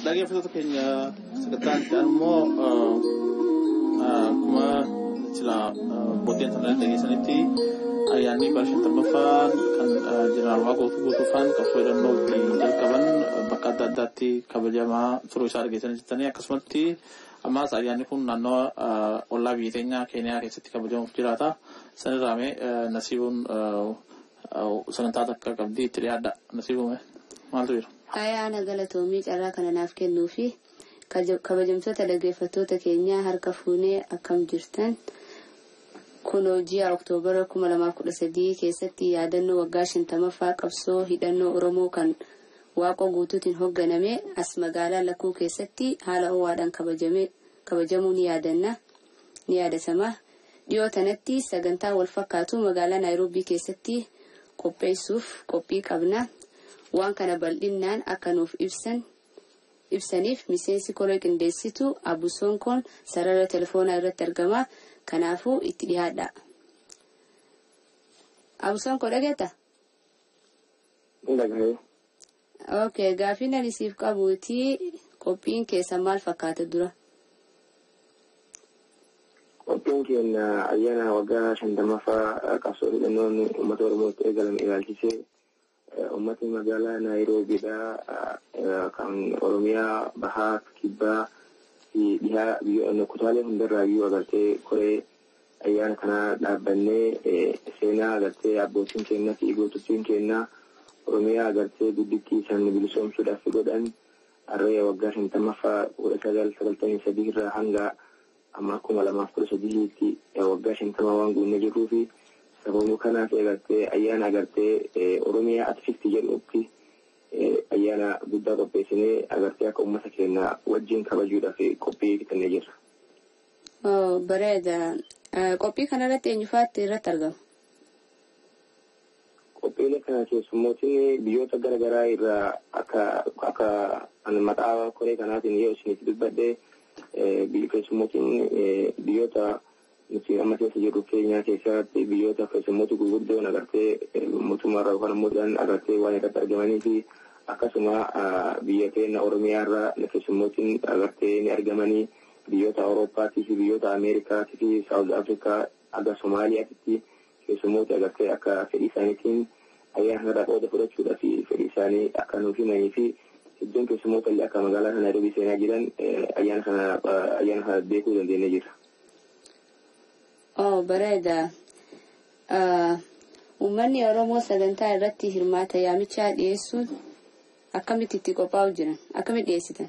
Dhaggeeffattoota keenya sagantaa itti aanu immoo akkuma sila abbootiin isaanii dhageessanitti ayyaanni bara shantammaffaan kan jeneraal Waaqoo guutuu guutuufaan qabsoo hidhannoo ittiin jalqaban bakka adda addaatti kabajamaa turuu isaa dhageessanii jirtanii akkasumatti ammaas ayyaanni kun naannoo ollaa biyya keenyaa keeniyaa keessatti kabajamuuf jiraata sanirraa mee nasiibuun Sagantaa takka qabdii itti dhiyaadha nasiibumee maaltu jira? Ayaana galatoomii carraa kana naaf kennuu fi kabajamtoota dhaggeeffattoota keenyaa harka fuunee akkam jirtan kunoo ji'a Oktoobara 2013 keessatti yaadannoo waggaa 50ffaa qabsoo hidhannoo Oromoo kan waaqoo guutuutiin hogganame as magaalaa Lakkuu keessatti haala ho'aadhaan kabajamuu ni yaadanna. ni yaadatama. Dhiyoo tanatti sagantaa wal fakkaatu magaalaa Naayiroobii keessatti qopheessuuf qophii qabna. Waan kana bal'innaan akka nuuf ibsan ibsaniif miseensi koree qindeessitu Abu Sonkoon sarara telefoonaa irratti argama. Kanaafuu itti dhihaadhaa. Abu Sonkoo dhageetta? Dhagahee. Ok gaafiin ani siif qabuuti qophiin keessan maal fakkaata dura? Qophiin keenya ayyaana waggaa shantamaffaa qabsoo hidhannoon uummata Oromootti eegalame ilaalchisee uummatni magaalaa Naayiroobiidhaa kan Oromiyaa bahaa kibbaa fi dhihaa biyya kutaalee hundarraayyuu agartee koree Ayyaana kana dhaabbannee seenaa agartee abbootiin keenya fi gootottiin keenya Oromiyaa agartee guddittii isaanii bilisoomsuudhaaf godhan harree waggaa shantamaffaa kudha sagal sagaltamii sadii irraa hanga amma kuma lamaaf kudha sadihiitti waggaa shantama waan guunnee jirruu fi sababuma kanaaf agartee ayyaana agartee Oromiyaa Atfifti jedhutti ayyaana guddaa qopheessinee agartee akka uummata keenya wajjin kabajuudhaaf qophii fixannee jirra. Oh, bareeda. Eh, Qophii kanarratti eenyufaatti irratti argama? Qophiilee kana keessummootni biyyoota gara garaa irraa akka akka ani maqaa koree kanaatiin yoo isinitti dubbadhe eh, biyyi keessummootni eh, biyyoota nuti amma keessa jirru keenyaa keessatti biyyoota keessummoota gurguddoon agartee eh, mootummaarraa yookaan immoo isaan agartee waan irratti argamanii fi akkasuma ah, biyya keenya Oromiyaarraa keessummootni agartee ni argamanii. Biyyoota Awurooppaatii fi biyyoota Ameerikaatii fi Saawuz Afrikaa haga Somaaliyaatitti keessummooti agartee akka fedhii isaaniitiin ayyaana kanarraa qooda fudhachuudhaaf fedhii isaanii akka nuuf himanii fi hedduun keessummoota illee akka magaalaa kana Naayiroobii seenaa jiran ayyaana kana ayyaana kana beekuu dandeenyee jirra. Oo bareeda. Uummanni Oromoo sagantaa irratti hirmaata yaamichaa dhiyeessuun akkamitti itti qophaa'u jiran? Akkamitti dhiyeessitan?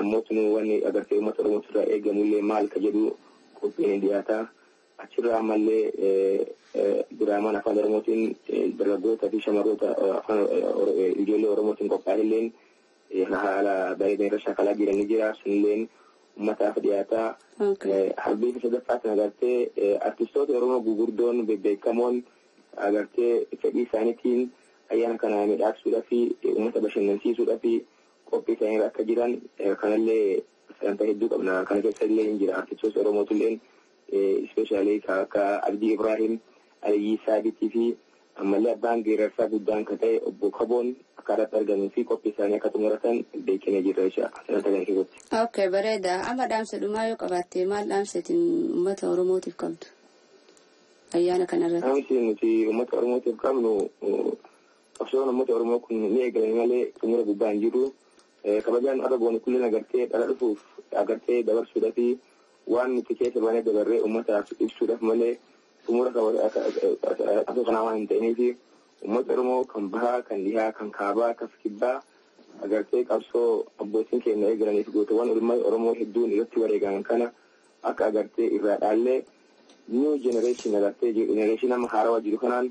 Ammoo tunuu wanni agartee uummata Oromootirraa eegamullee maal ka jedhu qophiin hin dhiyaata. Achirraa ammallee diraamaan afaan Oromootiin dargaggootaa fi shamarroota afaan ijoollee Oromootiin qophaa'elleen haala bareedan irra shaakalaa jiran ni jira. Sunilleen uummataaf dhiyaata. Harbii fi sadaffaatiin agartee artistoota Oromoo gugurdoon bebbeekamoon agartee fedhii isaaniitiin ayyaana kana midhaagsuudhaa fi uummata bashannansiisuudhaa fi qophii isaanii irra akka jiran kanallee sagantaa hedduu qabna kana keessa illee hin jira artistoota oromootulleen ispeeshaalii ka akka abdii ibraahim aliyyii saabitii fi ammallee abbaan geerarsaa guddaan ka ta'e obbo kaboon akka irratti argamuu fi qophii isaanii akka xumuratan beekina jirra jecha sagantaa kana keessatti. ok bareeda amma dhaamsa dhumaa yoo qabaatte maal dhaamseetiin uummata oromootiif qabdu ayyaana kanarratti. dhaamsi nuti uummata oromootiif qabnu Qabsoon uummata Oromoo kun ni eegalame malee xumura gubbaa hin jiru. Kabajaan har'a goone kulleen agartee dhala dhufuuf agartee dabarsuudhaa fi waan nuti keessa baanee dabarree uummataaf ibsuudhaaf malee xumura qabsoo kanaa waan hin ta'iniif uummata Oromoo kan bahaa kan dhihaa kan kaabaa kan kibbaa agartee qabsoo abbootiin keenya eegalaniif gootawwan ilmaan Oromoo hedduun irratti wareegaman kana akka agartee irraa dhaallee new generation agartee generation amma haarawaa jiru kanaan